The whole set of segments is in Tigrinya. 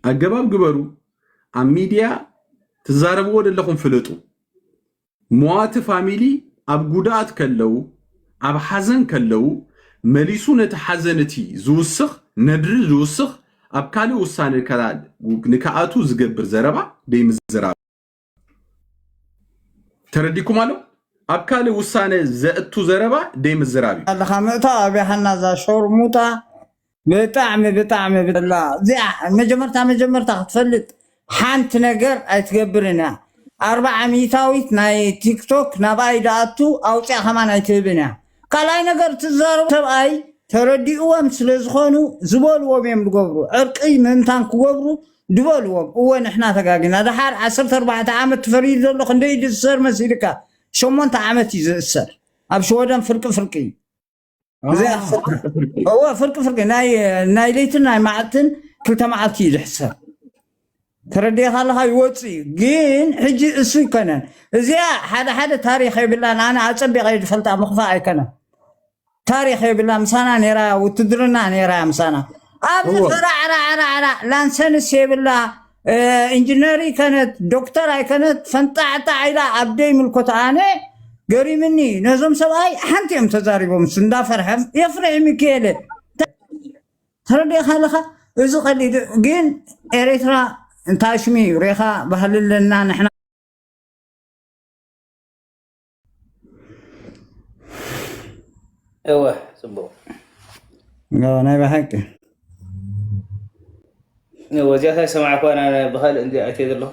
ኣገባብ ግበሩ። ኣብ ሚድያ ትዛረብዎ ዘለኹም ፍለጡ። መዋቲ ፋሚሊ ኣብ ጉድኣት ከለው ኣብ ሓዘን ከለው መሊሱ ነቲ ሓዘን እቲ ዝውስኽ ነድሪ ዝውስኽ ኣብ ካልእ ውሳነ ንክኣቱ ዝገብር ዘረባ ደይምዝራብ ተረዲኩም ኣሎ ኣብ ካልእ ውሳነ ዘእቱ ዘረባ ደይምዝራብ እዩ ኣለኻ ምእታ ኣብያ ሓና እዛ ሾርሙጣ ብጣዕሚ ብጣዕሚ ብላ እዚኣ መጀመርታ መጀመርታ ክትፈልጥ ሓንቲ ነገር ኣይትገብርን እያ ኣርብዓ ሚእታዊት ናይ ቲክቶክ ናብኣይ ደኣቱ ኣውፅኣ ከማን ኣይትህብን እያ ካልኣይ ነገር እቲ ዝዛረቡ ሰብኣይ ተረዲእዎም ስለ ዝኾኑ ዝበልዎም እዮም ዝገብሩ ዕርቂ ምእንታን ክገብሩ ዝበልዎም እወ ንሕና ተጋጊና ደሓር ዓሰርተ ኣርባዕተ ዓመት ትፈርዩ ዘሎ ክንደይ እዩ ዝእሰር መሲልካ ሸሞንተ ዓመት እዩ ዝእሰር ኣብ ሽወደን ፍርቂ ፍርቂ እዩ ብዘይ ኣሰርተ ፍርቂ ፍርቂ እወ ፍርቂ ፍርቂ ናይ ናይ ለይትን ናይ መዓልትን ክልተ መዓልቲ እዩ ዝሕሰብ ተረዲእኻ ኣለኻ ይወፅእ እዩ ግን ሕጂ እሱ ኣይኮነን እዚኣ ሓደ ሓደ ታሪክ የብላን ኣነ ኣፀቢቀ እየ ዝፈልጣ ምክፋእ ኣይኮነን ታሪክ የብላ ምሳና ነይራ እያ ውትድርና ነይራ እያ ምሳና ኣብዚ እዎ ፈራዕራዕራዕራ ላንሰንስ የብላ እ፣ ኢንጂነር ይከነት ዶክተር ኣይከነት ፈንጣዕጣዕ ኢላ ኣብ ደይምልኮት ኣነ ገሪምኒ ነዞም ሰብኣይ ሓንቲ እዮም ተዛሪቦም እሱ እንዳፈርሐም የፍርሒ ሚካኤለ ተረዲእኻ ኣለኻ እዚ ቀሊል እዩ ግን ኤሬትራ እንታይ ሽሚ እዩ ሬኻ ባህሊ ኣለና ንሕና እወ ፅቡቅ ናይ ብሓቂ ወዚያታ ሰማዕኳ ብካልእ እንዲ ኣይተ ዘለኹ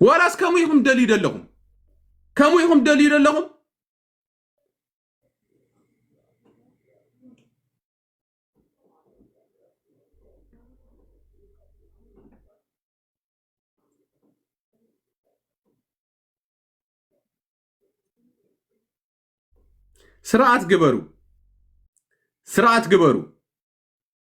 ዋላስ ከምኡ ኢኹም ደልዩ ዘለኹም ከምኡ ኢኹም ደልዩ ዘለኹም ስርዓት ግበሩ ስርዓት ግበሩ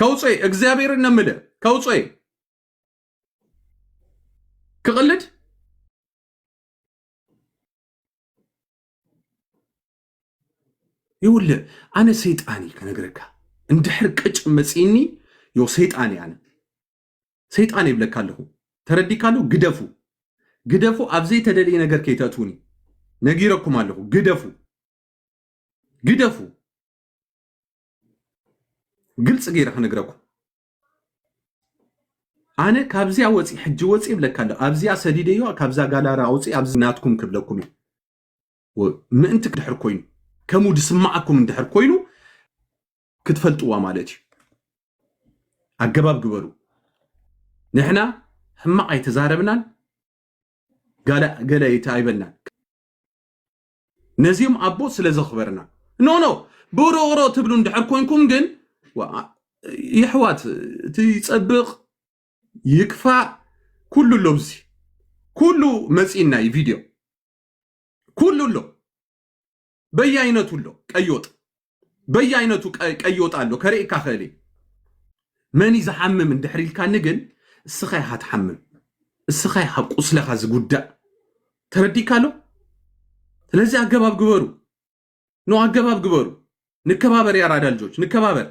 ከውፅእ እግዚኣብሔር እነምል ከውፅእ ክቕልድ ይውልእ ኣነ ሰይጣን እዩ ከነግረካ እንድሕር ቅጭ መፅኒ ዮ ሰይጣን እየ ኣነ ሰይጣን ይብለካ ኣለኹ ተረዲካ ኣለኹ ግደፉ ግደፉ ኣብ ዘይተደልየ ነገር ከይተእትውኒ ነጊረኩም ኣለኹ ግደፉ ግደፉ ግልፂ ገይረ ክነግረኩም ኣነ ካብዚያ ወፂ ሕጂ ወፂ ይብለካ ኣሎ ኣብዚኣ ሰዲደዮ ካብዛ ጋላራ ኣውፂ ኣብዚ ናትኩም ክብለኩም እዩ ምእንቲ ድሕር ኮይኑ ከምኡ ድስማዓኩም እንድሕር ኮይኑ ክትፈልጥዋ ማለት እዩ ኣገባብ ግበሩ ንሕና ሕማቕ ኣይተዛረብናን ገለ ኣይበልናን ነዚኦም ኣቦ ስለ ዘኽበርና ኖ ኖ ብሮሮ ትብሉ እንድሕር ኮንኩም ግን የሕዋት እቲ ይጸብቕ ይክፋእ ኩሉ ኣሎ ኣብዚ ኩሉ መጺእና እዩ ቪድዮ ኩሉ ኣሎ በየኣይነቱ ኣሎ ቀይወጥ በየኣይነቱ ቀዮጣ ኣሎ ከርእካ ክእል እየ መን እዩ ዝሓምም እንድሕር ኢልካኒ ግን እስኻ ኢኻ ትሓምም እስኻ ኢኻ ቁስለኻ ዝጉዳእ ተረዲካ ኣሎ ስለዚ ኣገባብ ግበሩ ኖ ኣገባብ ግበሩ ንከባበር ያራዳ ልጆች ንከባበር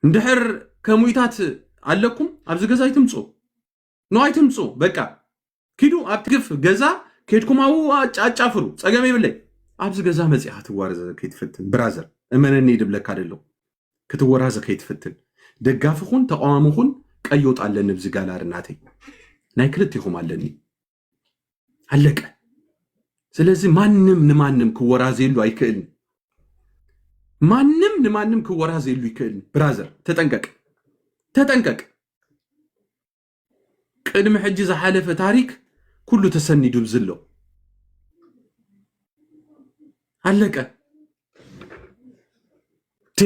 እንድሕር ከሙኢታት ኣለኩም ኣብዚ ገዛ ይትምፁ ን ኣይትምፁ በቃ ኪዱ ኣብቲ ግፍ ገዛ ኬድኩም ኣብኡ ኣጫ- ኣጫፍሩ ፀገም የብለይ ኣብዚ ገዛ መፂእኻ ትዋረዘ ከይትፍትን ብራዘር እመነኒ ድብለካ ደለኹ ክትወራዘ ከይትፍትን ደጋፊ ኹን ተቃዋሚ ኹን ቀዮጥ ኣለኒ ብዚ ጋላሪ ናተይ ናይ ክልቴኹም ኣለኒ ኣለቀ ስለዚ ማንም ንማንም ክወራዘየሉ ኣይክእልን ማንም ንማንም ክወራዘየሉ ይክእልን ብራዘር ተጠንቀቅ ተጠንቀቅ ቅድሚ ሕጂ ዝሓለፈ ታሪክ ኩሉ ተሰኒዱ ዝሎ ኣለቀ ቴ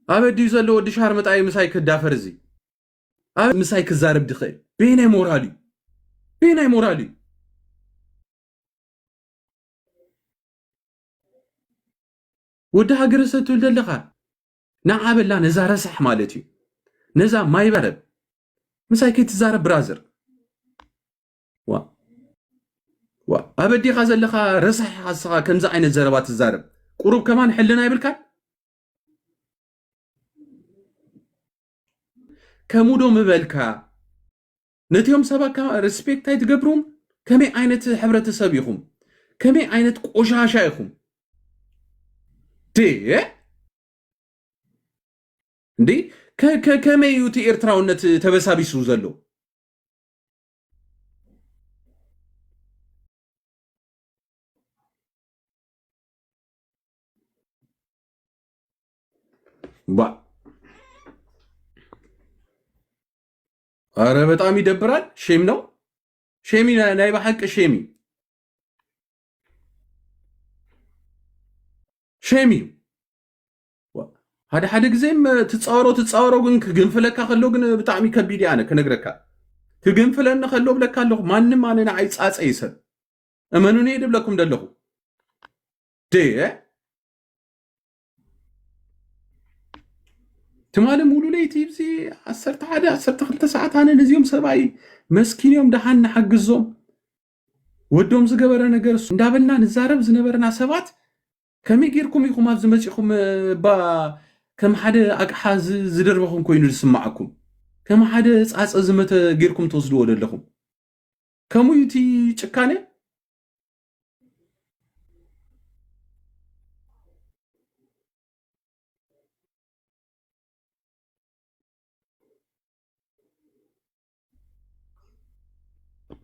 ኣበዲዩ ዘሎ ወዲ ሻርምጣይ ምሳይ ክዳፈር እዚ ኣብ ምሳይ ክዛረብ ድኽእል በየናይ ሞራል እዩ በየናይ ሞራል እዩ ወዲ ሃገረ ሰብ ትብል ዘለኻ ንዓበላ ነዛ ረሳሕ ማለት እዩ ነዛ ማይበረብ ምሳይ ከይትዛረብ ብራዘር ዋ ዋ ኣበዲኻ ዘለኻ ረሳሕ ሓስኻ ከምዚ ዓይነት ዘረባ ትዛረብ ቁሩብ ከማን ሕልና ይብልካ ከምኡ ዶ ምበልካ ነቲኦም ሰባካ ሪስፔክት ኣይትገብሩም ከመይ ዓይነት ሕብረተሰብ ኢኹም ከመይ ዓይነት ቆሻሻ ኢኹም ድየ እንዴ ከመይ እዩ እቲ ኤርትራውነት ተበሳቢሱ ዘሎ ባ ኧረ በጣም ይደብራል። ሼም ነው ሼሚ ናይ ናይ በሐቂ ሼሚ ሼሚ ሓደ ሓደ ግዜ ትፃወሮ ትፃወሮ ግን ክግንፍለካ ከሎ ግን ብጣዕሚ ከቢድ ኣነ ክነግረካ ክግንፍለኒ ከሎ ብለካ ኣለኹ ማንም ኣነ ንዓይ ፃፀ ይሰብ እመኑኒ ድብለኩም ደለኹ ዴ ትማሊ ሙሉ ለይቲ እዚ ዓሰርተ ሓደ ዓሰርተ ክልተ ሰዓት ኣነ ነዚኦም ሰብኣይ መስኪን እዮም ደሓን ንሓግዞም ወዶም ዝገበረ ነገር እሱ እንዳበልና ንዛረብ ዝነበረና ሰባት ከመይ ጌርኩም ኢኹም ኣብዚ መፂኹም እባ ከም ሓደ ኣቅሓ ዝደርበኹም ኮይኑ ዝስማዓኩም ከም ሓደ ፃፀ ዝመተ ጌርኩም ትወስድዎ ዘለኹም ከምኡ እቲ ጭካነ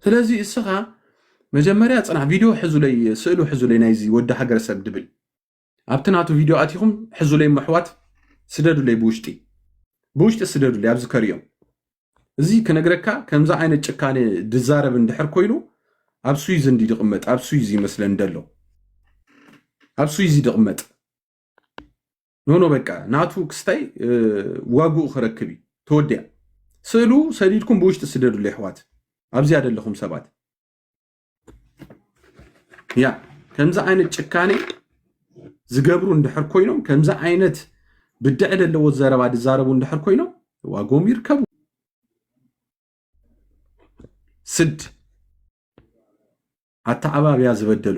ስለዚ እስኻ መጀመርያ ፅናሕ ቪድዮ ሕዙለይ ስእሉ ሕዙለይ ናይዚ ወዲ ሃገረሰብ ድብል ኣብቲ ናቱ ቪድዮ ኣቲኹም ሕዙለይ መሕዋት ስደዱለይ ብውሽጢ ብውሽጢ ስደዱለይ ኣብዚ ከሪኦም እዚ ክነግረካ ከምዚ ዓይነት ጭካነ ድዛረብ እንድሕር ኮይኑ ኣብ ስዊዝ እንዲ ድቕመጥ ኣብ ስዊዝ ይመስለን ደሎ ኣብ ስዊዝ ድቕመጥ ኖኖ በቃ ናቱ ክስታይ ዋግኡ ክረክብ እዩ ተወዲያ ስእሉ ሰዲድኩም ብውሽጢ ስደዱሉ ይሕዋት ኣብዚያ ደለኹም ሰባት ያ ከምዚ ዓይነት ጭካኔ ዝገብሩ እንድሕር ኮይኖም ከምዚ ዓይነት ብድዐ ዘለዎ ዘረባ ዝዛረቡ እንድሕር ኮይኖም ዋጎም ይርከቡ ስድ ኣተዓባብያ ዝበደሉ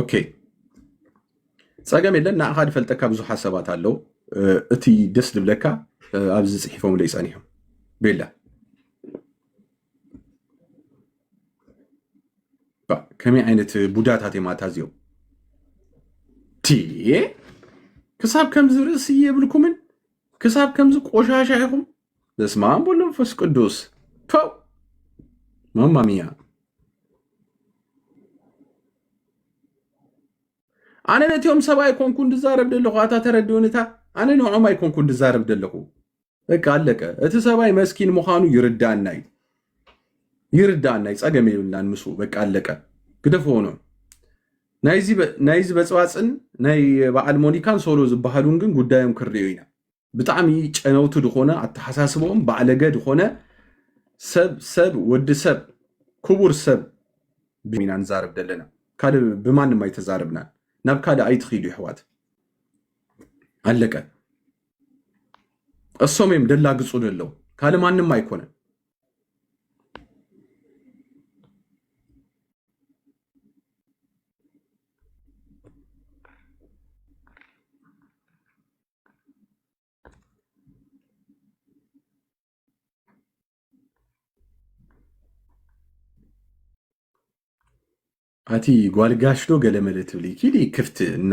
ኦኬ ፀገም የለን ንኣኻ ዝፈልጠካ ብዙሕ ሓሳባት ኣለው እቲ ደስ ዝብለካ ኣብዚ ፅሒፎም ለይ ፀኒሖም ቤላ ከመይ ዓይነት ቡዳታት እዮም ኣታ እዚኦም ክሳብ ከምዚ ርእሲ የብልኩምን ክሳብ ከምዚ ቆሻሻ ኢኹም በስመ አብ ወወልድ ወመንፈስ ቅዱስ ፐው ማማሚያ ኣነ ነቲኦም ሰብ ኣይኮንኩ እንድዛረብ ደለኹ ኣታ ተረድኡንታ ኣነ ንዖም ኣይኮንኩ እንድዛረብ ደለኹ በቃ ኣለቀ እቲ ሰብኣይ መስኪን ምዃኑ ይርዳና እዩ ይርዳና እዩ ፀገም የብልናን ምስ በቃ ኣለቀ ግደፈዎ ነው ናይዚ በፅባፅን ናይ በዓል ሞኒካን ሶሎ ዝበሃሉን ግን ጉዳዮም ክርዮ ኢና ብጣዕሚ ጨነውቲ ድኾነ ኣተሓሳስበኦም ባዕለገ ድኾነ ሰብ ሰብ ወዲ ሰብ ክቡር ሰብ ብሚና ንዛረብ ዘለና ካልእ ብማንም ኣይተዛረብናን ናብ ካልእ ኣይትኺዱ ይሕዋት ኣለቀ እሶም እዮም ደላግፁ ደለው ካልእ ማንም ኣይኮነን ኣቲ ጓልጋሽ ዶ ገለመለ ትብሊ ኪዲ ክፍቲ እና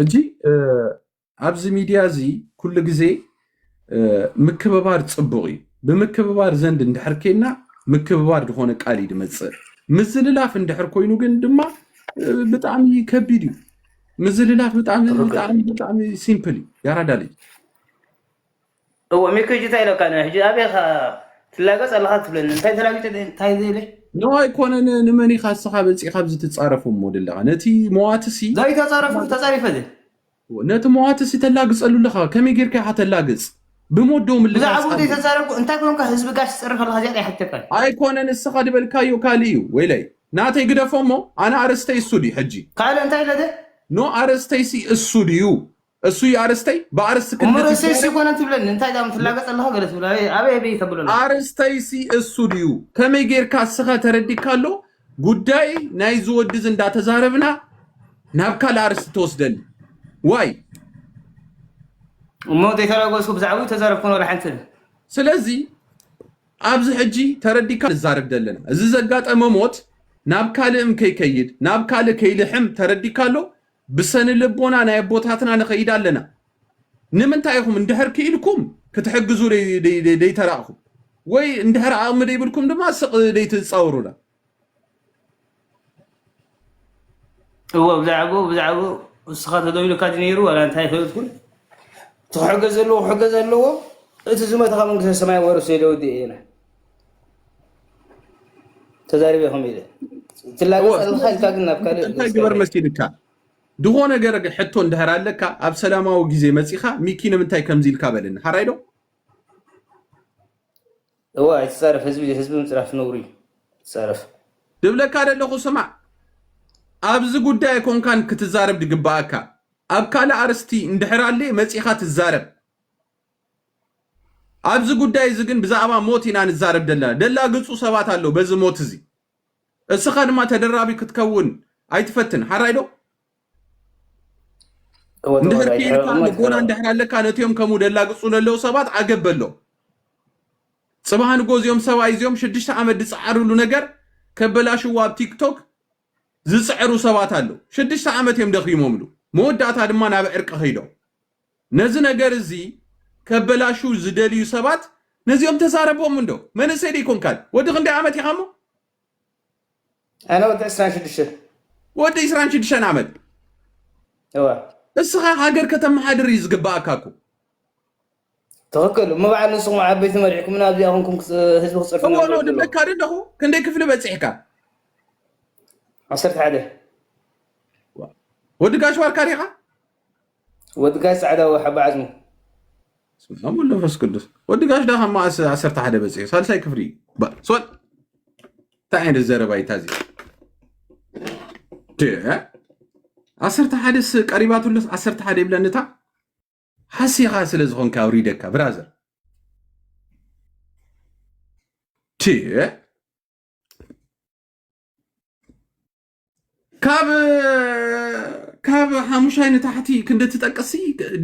ሕጂ ኣብዚ ሚድያ እዚ ኩሉ ግዜ ምክብባር ፅቡቕ እዩ ብምክብባር ዘንድ እንድሕር ኬና ምክብባር ዝኾነ ቃል እዩ ድመፅእ ምዝልላፍ እንድሕር ኮይኑ ግን ድማ ብጣዕሚ ከቢድ እዩ ምዝልላፍ ብጣዕሚ ብጣዕሚ ብጣዕሚ ሲምፕል እዩ ያራዳ ልጅ እዎ ሚኩ ሕጂ እንታይ ኢለካ ነ ሕጂ ኣበይ ኢኻ ትላገፅ ኣለኻ ትብለኒ እንታይ ተላጊፀ እንታይ ዘይለ ኖ ኣይኮነን ንመን ኢኻ እስኻ መፂእኻ ብዚ ትፃረፍ እሞ ደለኻ ነቲ መዋትሲ ዘይተፃረፍኩ ተፃሪፈ ዘ ነቲ መዋትሲ ተላግፀሉ ኣለኻ ከመይ ጌርካ ኢኻ ተላግፅ ብሞዶ ምልባስ ብዛዕባ ኣሎ ዘይተዛረብኩ እንታይ ኮንካ ህዝቢ ጋሽ ትፅሪ ከለካ እዚኣ ኣይሓተካን ኣይኮነን ንስኻ ድበልካዮ ካልእ እዩ ወይለይ ናተይ ግደፎ እሞ ኣነ ኣርእስተይ እሱ ድዩ ሕጂ ካልእ እንታይ ለደ ኖ ኣርእስተይሲ እሱ ድዩ እሱ እዩ ኣርእስተይ ብኣርእስቲ እሞ ክልት ርእሰይ ይዛረብ ሲኮነ ትብለኒ እንታይ ዳም ትላገፅ ኣለካ ገለ ትብል ኣበይ ኣበይ ኣበይ ተብሎ ኣለካ ኣርእስተይሲ እሱ ድዩ ከመይ ጌርካ እስኻ ተረዲካ ኣሎ ጉዳይ ናይዚ ወዲ እዚ እንዳተዛረብና ናብ ካልእ ኣርስቲ ተወስደኒ ዋይ እሞ ዘይተራጎስኩ ብዛዕባ ተዛረብኩን ወላ ሓንቲ ስለዚ ኣብዚ ሕጂ ተረዲካ ንዛረብ ዘለና እዚ ዘጋጠመ ሞት ናብ ካልእም ከይከይድ ናብ ካልእ ከይልሕም ተረዲካ ኣሎ ብሰንልቦና ናይ ኣቦታትና ንኸይድ ኣለና ንምንታይ ኢኹም እንድሕር ክኢልኩም ክትሕግዙ ደይተራእኹም ወይ እንድሕር ኣቕሚ ደይብልኩም ድማ ስቕ ደይትጻወሩና እዎ ብዛዕባኡ ብዛዕባኡ ንስኻ ተደውሉካ ድዩ ነይሩ ዋላ እንታይ ኣይፈለጥኩን እቲ ክሕገዝ ዘለዎ ክሕገዝ ኣለዎ እቲ ዝመተ ካብ መንግስተ ሰማይ ወረሶ ኢለ ወዲኤ ኢለ ተዛሪበ ከም ኢለ ትላገፅ ኣለካ ኢልካ ግን ናብ ካልእ እንታይ ግበር መሲልካ ዝኾነ ገር ሕቶ እንድሕር ኣለካ ኣብ ሰላማዊ ግዜ መፂኻ ሚኪ ንምንታይ ከምዚ ኢልካ በለኒ ሓራይ ዶ እዋ ኣይትፃረፍ ህዝቢ ህዝቢ ምፅራፍ ነውሪ ትፃረፍ ድብለካ ደለኹ ስማዕ ኣብዚ ጉዳይ ኣይኮንካን ክትዛረብ ድግበኣካ ኣብ ካልእ ኣርስቲ እንድሕር ኣለ መፂኻ ትዛረብ ኣብዚ ጉዳይ እዚ ግን ብዛእባ ሞት ኢና ንዛረብ ደለና ደላግጹ ሰባት ኣለዉ በዚ ሞት እዚ እስኻ ድማ ተደራቢ ክትከውን ኣይትፈትን ሓራይ ዶ እንድሕር ኪኢልካ ልቦና እንድሕር ኣለካ ነትዮም ከምኡ ደላግጹ ለለዉ ሰባት ዓገብ በሎ ጽባህ ንጎ እዚኦም ሰብኣይ እዚኦም ሽዱሽተ ዓመት ዝጸዓርሉ ነገር ከበላሽዎ ኣብ ቲክቶክ ዝጽዕሩ ሰባት ኣለዉ ሽዱሽተ ዓመት እዮም ደኺሞምሉ መወዳእታ ድማ ናብ ዕርቂ ከይዶም ነዚ ነገር እዚ ከበላሽው ዝደልዩ ሰባት ነዚኦም ተዛረቦም እንዶ መንእሰይ ዶ ኣይኮንካን ወዲ ክንደይ ዓመት ኢኻ እሞ? ኣነ ወዲ ዕስራን ሽዱሽተን። ወዲ ዕስራን ሽዱሽተን ዓመት እወ። እስኻ ሃገር ከተመሓድር እዩ ዝግበኣካ እኮ። ትኽክል እሞ በዓል ንስኹም ዓበይቲ መሪሕኩምና ኣብዚኣ ኮንኩም ክጽ- ህዝቢ ክጸርፍ እወ ኖ ድብለካ ዶ ኣለኹ ክንደይ ክፍሊ በጺሕካ ዓሰርተ ሓደ ወዲ ጋሽ ዋርካ ዲኻ? ወዲ ጋሽ ጻዕዳ ወይ ሓባ ዓዝሙ። ስም ኣብ ወልድ መንፈስ ቅዱስ ወዲ ጋሽ ዳኻ ማእስ ዓሰርተ ሓደ በፂሑ ሳልሳይ ክፍሊ እዩ ባ ስወል እንታይ ዓይነት ዘረባ እዩ ታዚ ድ- ዓሰርተ ሓደስ ቀሪባትሉስ ዓሰርተ ሓደ ይብለኒ እታ ሓሲኻ ስለ ዝኾንካ ኣውሪደካ ብራዘር ድ- ካብ ካብ ሓሙሻይ ንታሕቲ ክንዲ ትጠቅሲ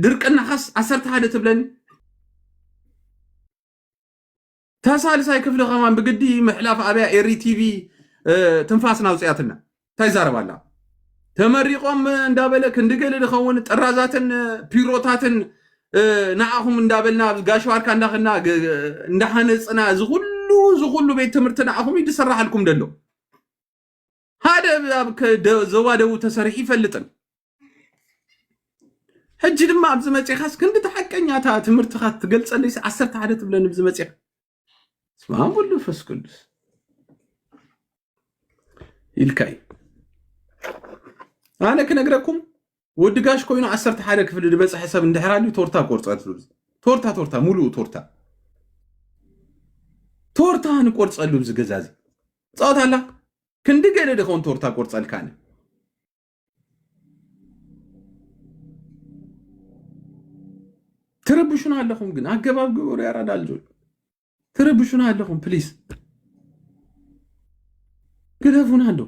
ድርቅናኻስ ዓሰርተ ሓደ ትብለኒ ተሳልሳይ ክፍሊ ከማን ብግዲ ምሕላፍ ኣብያ ኤሪ ቲቪ ትንፋስ ናውፅያትና እንታይ ይዛረብ ኣላ ተመሪቆም እንዳበለ ክንድገለ ድኸውን ጥራዛትን ፒሮታትን ንዓኹም እንዳበልና ኣብ ጋሽዋርካ እንዳኸና እንዳሃነፅና እዚ ኩሉ እዚ ኩሉ ቤት ትምህርቲ ንዓኹም እዩ ዝስራሓልኩም ደሎ ሓደ ኣብ ከ- ደ- ዞባ ደቡብ ተሰሪሑ ይፈልጥን ሕጂ ድማ ኣብዚ መፂኻስ ክንዲ እቲ ሓቀኛ እታ ትምህርትኻ ትገልፀለይስ ዓሰርተ ሓደ ትብለኒ ብዚ መፂኻ ስማ ወሉ ፈስ ቅዱስ ኢልካ እዩ ኣነ ክነግረኩም ወዲ ጋሽ ኮይኑ ዓሰርተ ሓደ ክፍሊ ዝበፅሐ ሰብ እንድሕር ኣልዩ ቶርታ ቆርፀትሉ ቶርታ ቶርታ ሙሉኡ ቶርታ ቶርታ ንቆርፀሉ እዚ ገዛ እዚ ፃወት ኣላ ክንዲ ገለ ድኸውን ቶርታ ቆርፀልካኒ ትረብሹና ኣለኹም ግን ኣገባብ ግበሩ ያራዳ ልጆች ትረብሹና ኣለኹም ፕሊስ ግደፉና እንዶ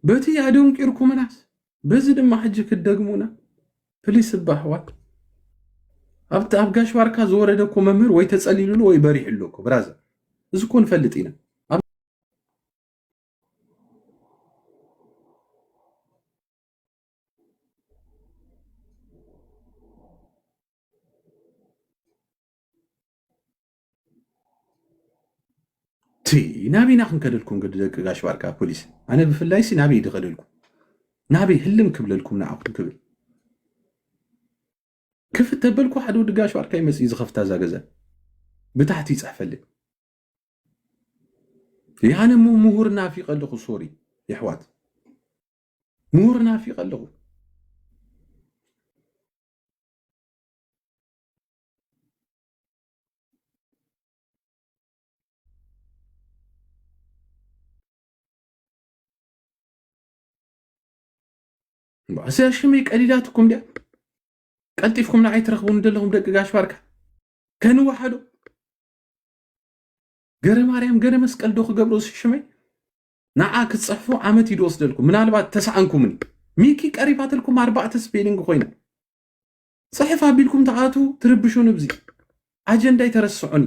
በቲ ኣደንቂርኩምናስ በዚ ድማ ሕጂ ክትደግሙና ፕሊስ እባ ኣሕዋት ኣብቲ ኣብ ጋሽ ባርካ ዝወረደ እኮ መምህር ወይ ተጸሊሉሉ ወይ በሪሕሉ እኮ ብራዘር እዚ እኮ ንፈልጥ ኢና ናበይ ኢና ክንከደልኩም ግዲ ደቂ ጋሽ ባርካ ፖሊስ ኣነ ብፍላይ ሲ ናበይ ድኸደልኩም ናበይ ህልም ክብለልኩም ንዓኹም ክብል ክፍት ተበልኩ ሓደ ወዲ ጋሽ ባርካ ይመፅ ዝኸፍታ እዛ ገዛ ብታሕቲ ይፅሕፈልይ ያነ እሞ ምሁር ናፊቀ ኣለኹ ሶሪ የሕዋት ምሁር ናፊቀ ኣለኹ እዚኣ ሽመይ ቀሊላትኩም ድያ ቀልጢፍኩም ንዓይ ትረኽቡኒ ዘለኹም ደቂ ጋሽ ባርካ ከንወሓዶ ገረ ማርያም ገረ መስቀል ዶ ክገብሩ ሽመይ ንዓ ክትፅሕፉ ዓመት እዩ ድወስደልኩም ምናልባት ተስኣንኩምኒ ሚኪ ቀሪባትልኩም ኣርባዕተ ስፔሊንግ ኮይና ጽሕፍ ኣቢልኩም ትኣትዉ ትርብሹን እብዚ ኣጀንዳ ኣይተረስዑኒ።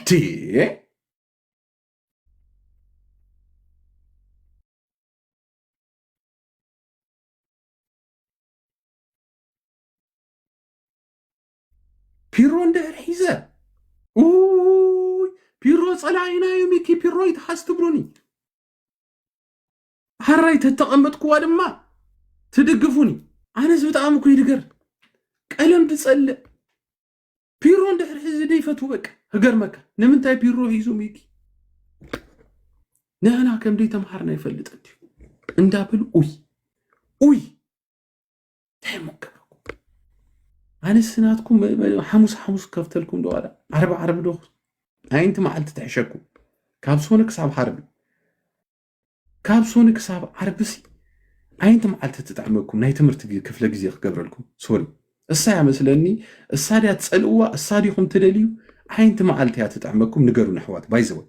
ቲየ ፒሮ እንድሕር ሒዘ ኡይ ፒሮ ጸላኢና እዩ ሚኪ ፒሮ ይትሓዝ ትብሉኒ ሃራይ ተተቐመጥክዋ ድማ ትድግፉኒ ኣነስ ብጣዕሚ እኮ ይድገር ቀለም ትጸልእ ፒሮ እንድሕር ሒዚ ደይፈቱ በቃ ህገርመካ ንምንታይ ፒሮ ሒዙ ሚኪ ንሕና ከምደይ ተምሃርና ይፈልጥ እንድዩ እንዳብል ኡይ ኡይ እንታይ እሞ ክገብረኩም ኣነስ ናትኩም ሓሙስ ሓሙስ ከፍተልኩም ዶ ዋላ ዓርቢ ዓርቢ ዶ ኣይንቲ መዓልቲ ትሕሸኩም ካብ ሶኒ ክሳብ ዓርቢ ካብ ሶኒ ክሳብ ዓርቢሲ ኣይንቲ መዓልቲ ትጥዕመኩም ናይ ትምህርቲ ክፍለ ግዜ ክገብረልኩም ሶኒ እሳ እያ መስለኒ እሳ ድያ ትፀልእዋ እሳ ዲኹም ትደልዩ ኣይንቲ መዓልቲ እያ ትጥዕመኩም ንገሩን ኣሕዋት ባይዘወ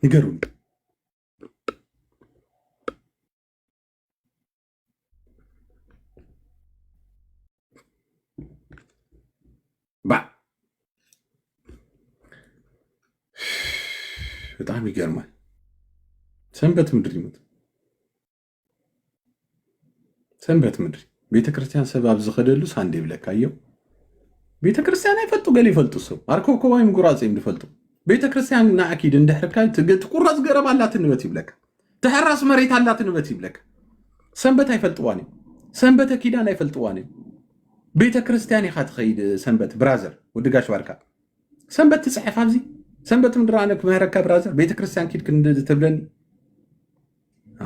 ንገሩን ባዕ በጣም ይገርማል። ሰንበት ምድር ይሙት ሰንበት ምድሪ ቤተ ክርስቲያን ሰብ ኣብ ዝኸደሉ ሳንዴ ብለካዮ ቤተ ክርስቲያን ኣይፈልጡ ገለ ይፈልጡ ሰብ ኣርከብከባይ ምጉራፅ እዮም ዝፈልጡ ቤተ ክርስቲያን ንኣኪድ እንድሕርካ ትቁረፅ ገረብ ኣላትንበት ይብለካ ተሐራስ መሬት ኣላት ንበት ይብለካ ሰንበት ኣይፈልጥዋን እዩ ሰንበተ ኪዳን ኣይፈልጥዋን እዩ ቤተ ክርስቲያን ኢኻ ትኸይድ ሰንበት ብራዘር ወድጋሽ ባርካ ሰንበት ትፅሕፍ ኣብዚ ሰንበት ምድር ኣነ ክምህረካ ብራዘር ቤተ ክርስቲያን ኪድ ትብለኒ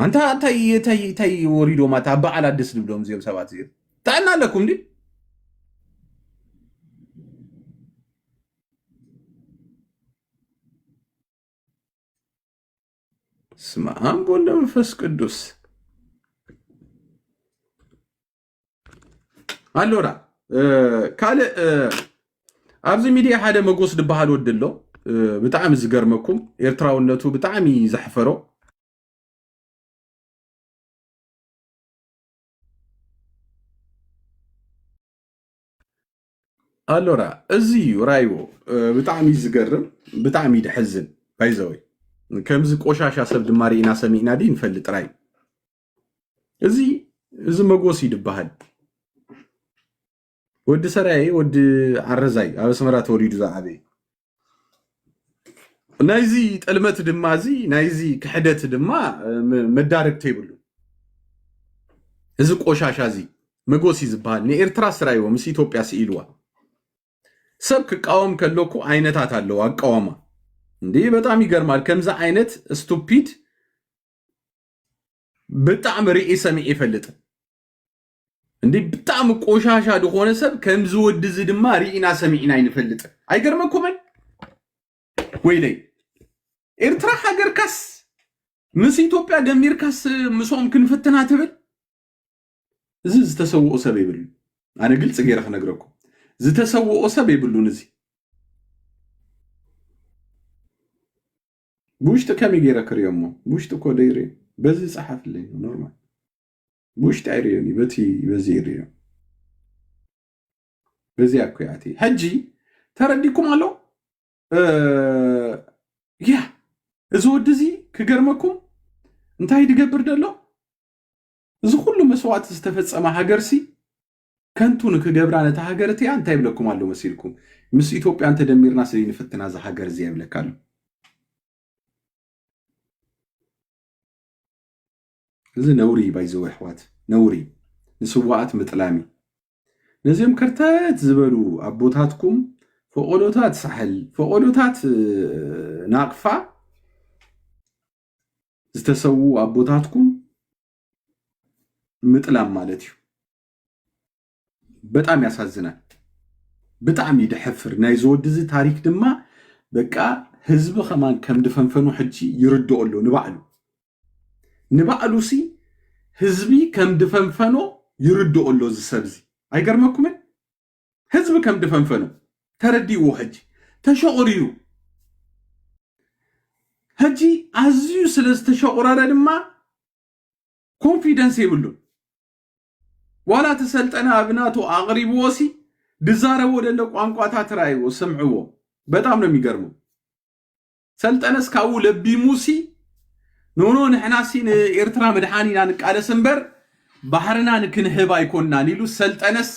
ኣንታ እንታይ ወሪዶም ኣታ ኣብ በዓል ኣደስ ድብሎም እዚኦም ሰባት እዚኦም ጥዕና ኣለኩም ዲ ስመ አብ ወወልድ ወመንፈስ ቅዱስ ኣሎና ካልእ ኣብዚ ሚድያ ሓደ መጎስ ዝበሃል ወዲ ኣሎ ብጣዕሚ ዝገርመኩም ኤርትራውነቱ ብጣዕሚ ዘሕፈሮ ኣሎራ እዚ እዩ ራይዎ ብጣዕሚ ዝገርም ብጣዕሚ ድሕዝን ባይዘወይ ከምዚ ቆሻሻ ሰብ ድማ ርኢና ሰሚዕና ዲ ንፈልጥ ራይ እዚ እዚ መጎስ እዩ ድበሃል ወዲ ሰራየ ወዲ ዓረዛይ ኣብ ኣስመራ ተወሊዱ ዝዓበየ ናይዚ ጥልመት ድማ እዚ ናይዚ ክሕደት ድማ መዳረግተ ይብሉ እዚ ቆሻሻ እዚ መጎሲ ዝበሃል ንኤርትራ ስራይዎ ምስ ኢትዮጵያ ስኢልዋ ሰብ ክቃወም ከለኩ ዓይነታት ኣለዎ ኣቃዋማ እንዲ በጣም ይገርማል ከምዚ ዓይነት ስቱፒድ ብጣዕሚ ርኢ ሰሚዕ ይፈልጥ እንዴ ብጣዕሚ ቆሻሻ ዝኾነ ሰብ ከምዚ ወዲ እዚ ድማ ርኢና ሰሚዕና ኣይንፈልጥን ኣይገርመኩምን ወይለይ ኤርትራ ሃገርካስ ምስ ኢትዮጵያ ደሚርካስ ምስኦም ክንፍትና ትብል እዚ ዝተሰውኦ ሰብ የብሉ ኣነ ግልፂ ገይረ ክነግረኩም ዝተሰውኦ ሰብ የብሉን እዚ ብውሽጢ ከመይ ገይረ ክሪኦሞ ብውሽጢ እኮ ደይሪ በዚ ፀሓፍለይ ኖርማል ብውሽጢ ኣይርእዮን እዩ በቲ በዚ ይርእዮ በዚ ኣኩያቲ ሕጂ ተረዲኩም ኣሎ ያ እዚ ወዲ እዚ ክገርመኩም እንታይ ድገብር ደሎ እዚ ኩሉ መስዋእቲ ዝተፈፀመ ሃገርሲ ከንቱ ንክገብራ ነታ ሃገር እቲኣ እንታይ ይብለኩም ኣሎ መሲልኩም ምስ ኢትዮጵያ እንተደሚርና ስለ ንፍትና እዚ ሃገር እዚ ይብለካ ኣሎ እዚ ነውሪ እዩ ባይዘው ኣሕዋት ነውሪ ንስዋኣት ምጥላም እዩ ነዚኦም ከርተት ዝበሉ ኣቦታትኩም ፈቆዶታት ሳሕል ፈቆዶታት ናቕፋ ዝተሰዉ ኣቦታትኩም ምጥላም ማለት እዩ በጣም ያሳዝናል። ብጣዕሚ ደሐፍር ናይ ዝወዲ እዚ ታሪክ ድማ በቃ ህዝቢ ከማን ከም ድፈንፈኑ ሕጂ ይርድኦ ኣሎ ንባዕሉ ንባዕሉ ሲ ህዝቢ ከም ድፈንፈኖ ይርድኦ ኣሎ እዚ ሰብ እዚ ኣይገርመኩምን ህዝቢ ከም ድፈንፈኖ ተረዲእዎ ሕጂ ተሸቑሪሩ ሕጂ ኣዝዩ ስለ ዝተሸቑረረ ድማ ኮንፊደንስ የብሉን ዋላ እቲ ሰልጠነ ኣብናቱ ኣቅሪብዎሲ ድዛረቦ ደሎ ቋንቋታት ራይዎ ስምዕዎ በጣም ነው የሚገርመው ሰልጠነስ ካብኡ ለቢሙሲ ኖኖ ንሕናሲ ንኤርትራ ምድሓን ኢና ንቃለስ እምበር ባሕርና ንክንህብ ኣይኮናን ኢሉ ሰልጠነስ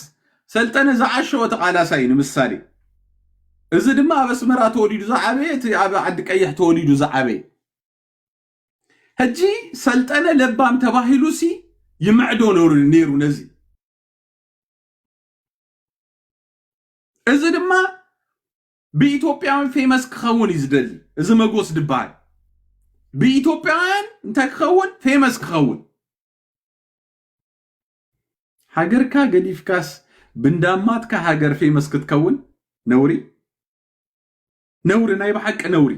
ሰልጠነ ዝዓሸወ ተቃላሳይ እዩ ንምሳሌ እዚ ድማ ኣብ ኣስመራ ተወሊዱ ዝዓበየ እቲ ኣብ ዓዲ ቀይሕ ተወሊዱ ዝዓበየ ሕጂ ሰልጠነ ለባም ተባሂሉሲ ይምዕዶ ነይሩ ነዚ እዚ ድማ ብኢትዮጵያውያን ፌመስ ክኸውን እዩ ዝደሊ እዚ መጎስ ድበሃል ብኢትዮጵያውያን እንታይ ክኸውን ፌመስ ክኸውን ሃገርካ ገዲፍካስ ብንዳማትካ ሃገር ፌመስ ክትከውን ነውሪ ነውሪ ናይ ብሓቂ ነውሪ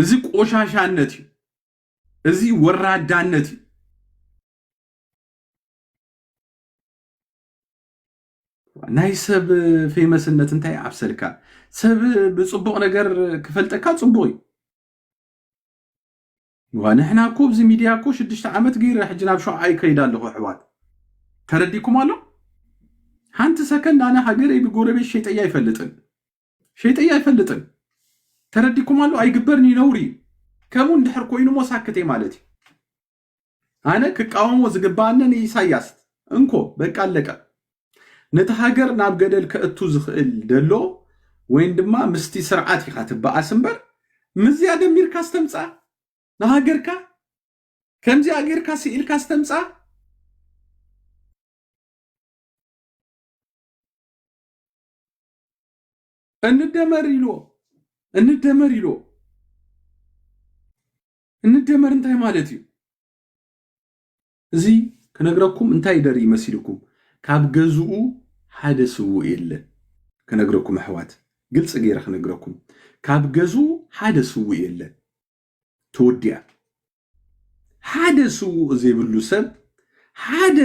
እዚ ቆሻሻነት እዩ። እዚ ወራዳነት እዩ። ናይ ሰብ ፌመስነት እንታይ ኣብሰልካ? ሰብ ብፅቡቕ ነገር ክፈልጠካ ፅቡቕ እዩ። ዋ ንሕና እኮ ኣብዚ ሚድያ እኮ ሽዱሽተ ዓመት ገይረ ሕጂ ናብ ሸውዓ ይከይድ ኣለኹ ኣሕዋት ተረዲኩም ኣሎ ሓንቲ ሰከንድ ኣነ ሃገረይ ብጎረቤት ሸይጠያ ኣይፈልጥን ሸይጠያ ኣይፈልጥን ተረዲኩም ኣሎ ኣይግበርን እዩ ነውሪ እዩ ከምኡ እንድሕር ኮይኑ ሞ ሳክት እየ ማለት እዩ ኣነ ክቃወሞ ዝግባኣነ ንኢሳያስ እንኮ በቃ ኣለቀ ነቲ ሃገር ናብ ገደል ከእቱ ዝኽእል ደሎ ወይን ድማ ምስቲ ስርዓት ኢኻ ትበኣስ እምበር ምዝያ ደሚርካ ዝተምፃ ንሃገርካ ከምዚኣ ጌርካ ስኢልካ ዝተምፃ እንደመር ኢልዎ እንደመር ኢልዎ እንደመር እንታይ ማለት እዩ እዚ ክነግረኩም እንታይ ደርኢ መሲልኩም ካብ ገዝኡ ሓደ ስውእ የለን ክነግረኩም ኣሕዋት ግልፂ ገይረ ክነግረኩም ካብ ገዝኡ ሓደ ስውእ የለን ተወዲያ ሓደ ስውእ ዘይብሉ ሰብ ሓደ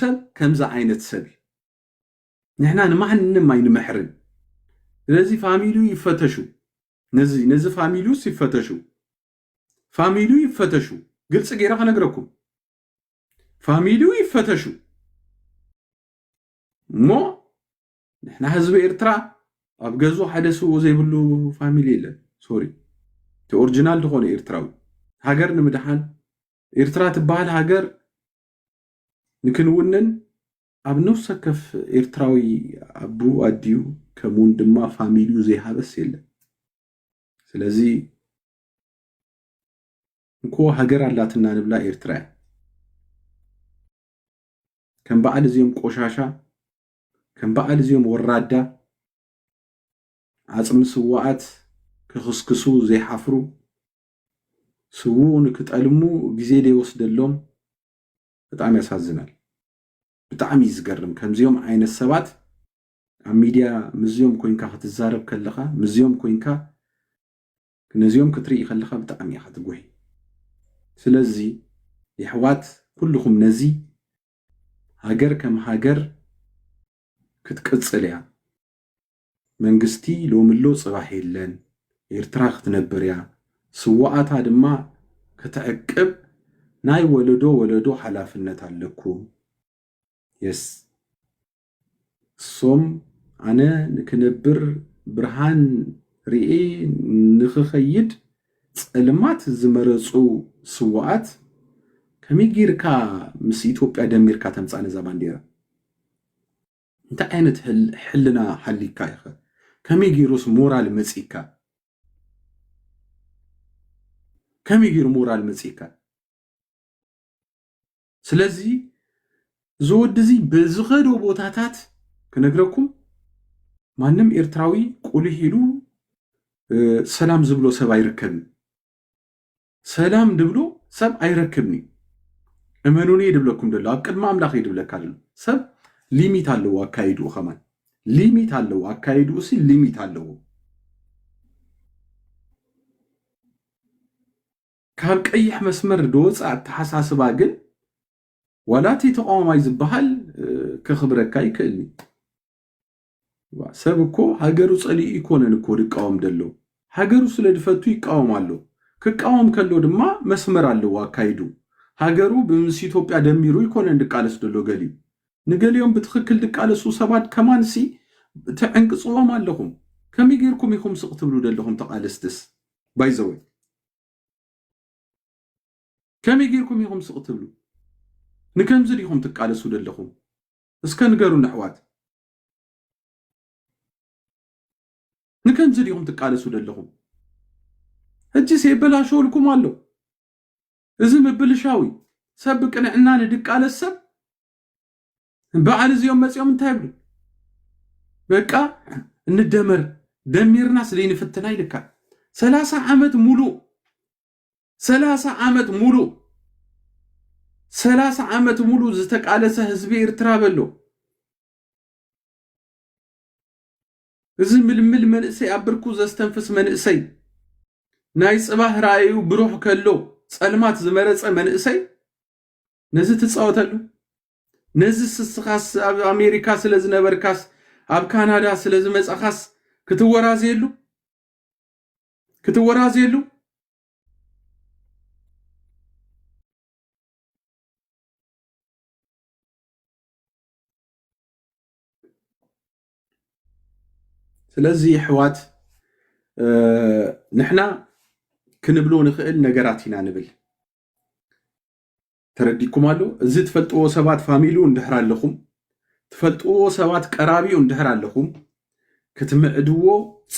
ሰብ ከምዚ ዓይነት ሰብ እዩ ንሕና ንማንም ኣይንምሕርን ስለዚ ፋሚሉ ይፈተሹ ነዚ ነዚ ፋሚሉስ ይፈተሹ ፋሚሉ ይፈተሹ ግልፂ ገይረ ከነግረኩም ፋሚሉ ይፈተሹ እሞ ንሕና ህዝቢ ኤርትራ ኣብ ገዙ ሓደ ስውኡ ዘይብሉ ፋሚሊ የለን ሶሪ እቲ ኦሪጂናል ዝኾነ ኤርትራዊ ሃገር ንምድሓን ኤርትራ ትበሃል ሃገር ንክንውንን ኣብ ነፍሲ ወከፍ ኤርትራዊ ኣቡኡ ኣዲኡ ከምኡውን ድማ ፋሚሊኡ ዘይሃበስ የለን። ስለዚ እንኮ ሃገር ኣላትና ንብላ ኤርትራ እያ። ከም በዓል እዚኦም ቆሻሻ ከም በዓል እዚኦም ወራዳ ዓጽሚ ስዋኣት ክኽስክሱ ዘይሓፍሩ ስውኡ ንክጠልሙ ግዜ ዘይወስደሎም በጣም ያሳዝናል። ብጣዕሚ እዩ ዝገርም ከምዚኦም ዓይነት ሰባት ኣብ ሚድያ ምስዚኦም ኮንካ ክትዛረብ ከለኻ ምስዚኦም ኮንካ ነዚኦም ክትርኢ ከለኻ ብጣዕሚ ኢኻ ትጉሂ ስለዚ የሕዋት ኩልኹም ነዚ ሃገር ከም ሃገር ክትቅጽል እያ መንግስቲ ሎሚ ኣሎ ጽባሕ የለን ኤርትራ ክትነብር እያ ስዋኣታ ድማ ክትዕቅብ ናይ ወለዶ ወለዶ ሓላፍነት ኣለኩም yes እሶም ኣነ ንክነብር ብርሃን ሪኤ ንክከይድ ጸልማት ዝመረጹ ስዋኣት ከመይ ጌርካ ምስ ኢትዮጵያ ደሚርካ ተምጻ ነዛ ባንዴራ። እንታይ ዓይነት ሕልና ሃሊካ ኢዩ ከ ከመይ ጌሩስ ሞራል መጺካ ከመይ ጌሩ ሞራል መጺካ ስለዚ እዚ ወዲ እዚ በዝኸዶ ቦታታት ክነግረኩም ማንም ኤርትራዊ ቁልህ ኢሉ ሰላም ዝብሎ ሰብ ኣይርከብን ሰላም ድብሎ ሰብ ኣይረክብን እዩ እመኑኒ እየ ድብለኩም ደሎ ኣብ ቅድሚ ኣምላኽ እዩ ድብለካ ደሎ ሰብ ሊሚት ኣለዎ ኣካይድኡ ከማን ሊሚት ኣለዎ ኣካይድኡ ሲ ሊሚት ኣለዎ ካብ ቀይሕ መስመር ድወፃ ኣተሓሳስባ ግን ዋላ እቲ ተቃዋማይ ዝበሃል ከኽብረካ ይክእል እዩ ሰብ እኮ ሃገሩ ጸሊኡ እይኮነን እኮ ድቃወም ደሎ ሃገሩ ስለ ድፈቱ ይቃወም ኣሎ ክቃወም ከሎ ድማ መስመር ኣለዎ ኣካይዱ ሃገሩ ብምስ ኢትዮጵያ ደሚሩ እይኮነን ድቃለስ ደሎ ገሊኡ ንገሊኦም ብትኽክል ድቃለሱ ሰባት ከማን ሲ ትዕንቅጽዎም ኣለኹም ከመይ ገይርኩም ኢኹም ስቅ ትብሉ ደለኹም ተቃለስትስ ባይዘወይ ከመይ ገይርኩም ኢኹም ስቅ ትብሉ ንከምዚ ዲኹም ትቃለሱ ደለኹም እስከ ንገሩኒ ኣሕዋት ንከምዚ ዲኹም ትቃለሱ ደለኹም ሕጂስ የበላሸወልኩም ኣሎ እዚ ምብልሻው እዩ ሰብ ብቅንዕና ንድቃለስ ሰብ በዓል እዚኦም መጺኦም እንታይ ይብሉ በቃ እንደመር ደሚርና ስለይንፍትና ይልካ ሰላሳ ዓመት ሙሉእ ሰላሳ ዓመት ሙሉእ ሰላሳ ዓመት ሙሉእ ዝተቃለሰ ህዝቢ ኤርትራ በሎ እዚ ምልምል መንእሰይ ኣብ ብርኩ ዘስተንፍስ መንእሰይ ናይ ጽባህ ራእዩ ብሩህ ከሎ ጸልማት ዝመረጸ መንእሰይ ነዚ ትጻወተሉ ነዚ ስስኻስ ኣብ ኣሜሪካ ስለ ዝነበርካስ ኣብ ካናዳ ስለ ዝመጻኻስ ክትወራዘየሉ ክትወራዘየሉ ስለዚ ኣሕዋት ንሕና ክንብሎ ንኽእል ነገራት ኢና ንብል ተረዲኩም ኣሎ እዚ ትፈልጥዎ ሰባት ፋሚሉ እንድሕር ኣለኹም ትፈልጥዎ ሰባት ቀራቢኡ እንድሕር ኣለኹም ክትምዕድዎ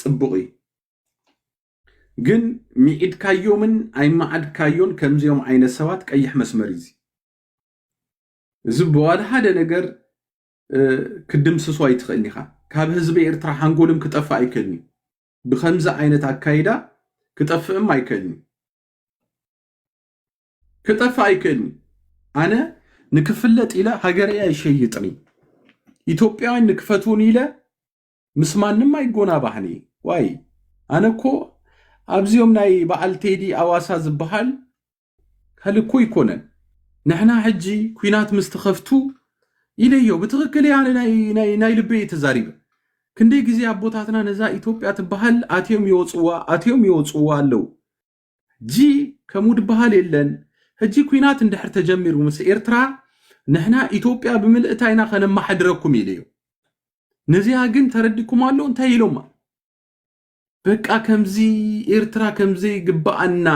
ፅቡቕ እዩ ግን ሚዒድካዮምን ኣይመዓድካዮን ከምዚኦም ዓይነት ሰባት ቀይሕ መስመር እዩ እዚ ብዋላ ሓደ ነገር ክድምስሶ ኣይትኽእልን ኢኻ ካብ ህዝቢ ኤርትራ ሓንጎልም ክጠፍእ ኣይክእልን እዩ ብከምዚ ዓይነት ኣካይዳ ክጠፍእም ኣይክእልን እዩ ክጠፍእ ኣይክእልን እዩ። ኣነ ንክፍለጥ ኢለ ሃገረይ ኣይሸይጥን እዩ። ኢትዮጵያውያን ንክፈትውኒ ኢለ ምስ ማንም ኣይጎናባህን እዩ። ዋይ ኣነ እኮ ኣብዚኦም ናይ በዓል ቴዲ ኣዋሳ ዝበሃል ከልኮ ይኮነን ንሕና ሕጂ ኩናት ምስ ተኸፍቱ ኢለዮ ብትኽክል እያ ናይ ልበ እየ ተዛሪበ ክንደይ ግዜ ኣቦታትና ነዛ ኢትዮጵያ ትበሃል ኣትዮም ይወፅዋ ኣትዮም ይወፅዋ ኣለዉ ሕጂ ከምኡ ድበሃል የለን ሕጂ ኩናት እንድሕር ተጀሚሩ ምስ ኤርትራ ንሕና ኢትዮጵያ ብምልእታ ኢና ከነማሐድረኩም ኢሉ እዩ ነዚኣ ግን ተረዲኩም ኣሎ እንታይ ኢሎማ በቃ ከምዚ ኤርትራ ከምዘይ ግባኣና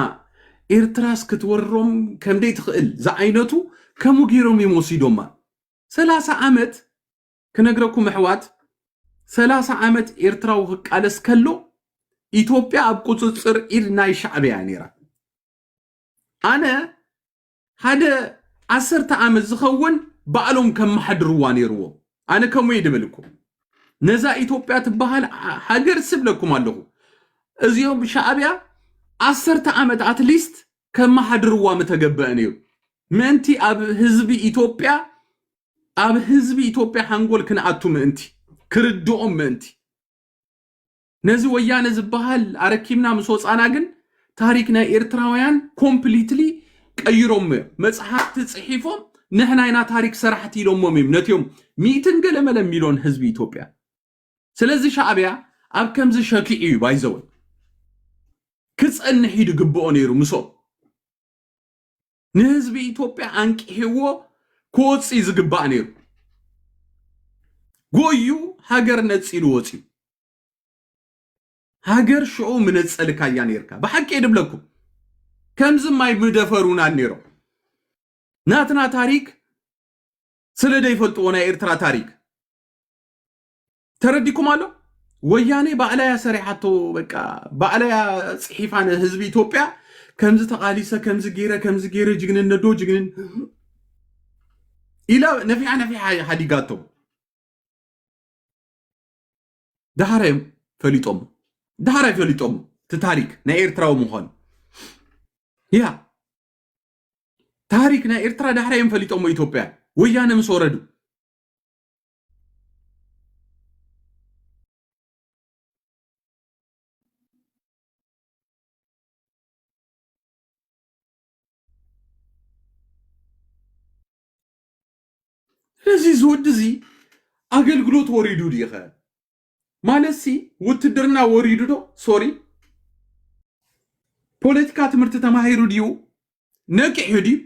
ኤርትራስ ክትወሮም ከምደይ ትኽእል ዝዓይነቱ ከምኡ ገይሮም እዮም ወሲዶማ ሰላሳ ዓመት ክነግረኩም ኣሕዋት ሰላሳ ዓመት ኤርትራዊ ክቃለስ ከሎ ኢትዮጵያ ኣብ ቁፅፅር ኢድ ናይ ሻዕብያ እያ ነይራ ኣነ ሓደ ዓሰርተ ዓመት ዝኸውን ባዕሎም ከመሓድርዋ ነይርዎ ኣነ ከምኡ እየ ድብል እኮ ነዛ ኢትዮጵያ ትበሃል ሃገር ስብለኩም ኣለኹ እዚኦም ሻዕብያ ዓሰርተ ዓመት ኣትሊስት ከመሓድርዋ ምተገበአ ነይሩ ምእንቲ ኣብ ህዝቢ ኢትዮጵያ ኣብ ህዝቢ ኢትዮጵያ ሓንጎል ክንኣቱ ምእንቲ፣ ክርድኦም ምእንቲ፣ ነዚ ወያነ ዝበሃል ኣረኪብና ምስ ወፃና ግን ታሪክ ናይ ኤርትራውያን ኮምፕሊትሊ ቀይሮሞ እዮም። መፅሓፍቲ ፅሒፎም ንሕና ኢና ታሪክ ሰራሕቲ ኢሎሞም እዮም ነትዮም ሚእትን ገለመለ ሚሎን ህዝቢ ኢትዮጵያ። ስለዚ ሻዕቢያ ኣብ ከምዚ ሸኪዑ እዩ ባይዘወይ ክፀንሕ እዩ ድግብኦ ነይሩ ምሶም። ንህዝቢ ኢትዮጵያ ኣንቂሕዎ ክወፅእ እዩ ዝግባእ ነይሩ ጎዩ ሃገር ነፂሉ ወፅዩ ሃገር ሽዑ ምነፀልካ እያ ነርካ ብሓቂ ድብለኩም ከምዚ ማይ ምደፈሩና ነይሮም ናትና ታሪክ ስለ ዘይፈልጥዎ ናይ ኤርትራ ታሪክ ተረዲኩም ኣሎ ወያኔ ባዕላያ ሰሪሓቶ በቃ ባዕላያ ፅሒፋ ንህዝቢ ኢትዮጵያ ከምዚ ተቃሊሰ ከምዚ ገይረ ከምዚ ገይረ ጅግንነት ዶ ጅግንን ኢላ ነፊሓ ነፊሓ ሓዲጋቶ ድሓር እዮም ፈሊጦም ድሓር ኣይፈሊጦም እቲ ታሪክ ናይ ኤርትራዊ ምዃኑ ያ ታሪክ ናይ ኤርትራ ዳሕራ እዮም ፈሊጦሞ ኢትዮጵያ ወያነ ምስ ወረዱ ስለዚ እዚ ወዲ እዚ ኣገልግሎት ወሪዱ ድዩ ኸ ማለትሲ ውትድርና ወሪዱ ዶ ሶሪ ፖለቲካ ትምህርቲ ተማሂሩ ድዩ ነቂሑ ድዩ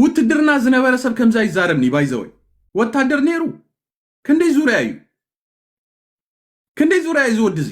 ውትድርና ዝነበረ ሰብ ከምዚ ኣይዛረብኒ ባይዘወይ ወታደር ነይሩ ክንደይ ዙርያ እዩ ክንደይ ዙርያ እዩ ዝወዲ እዚ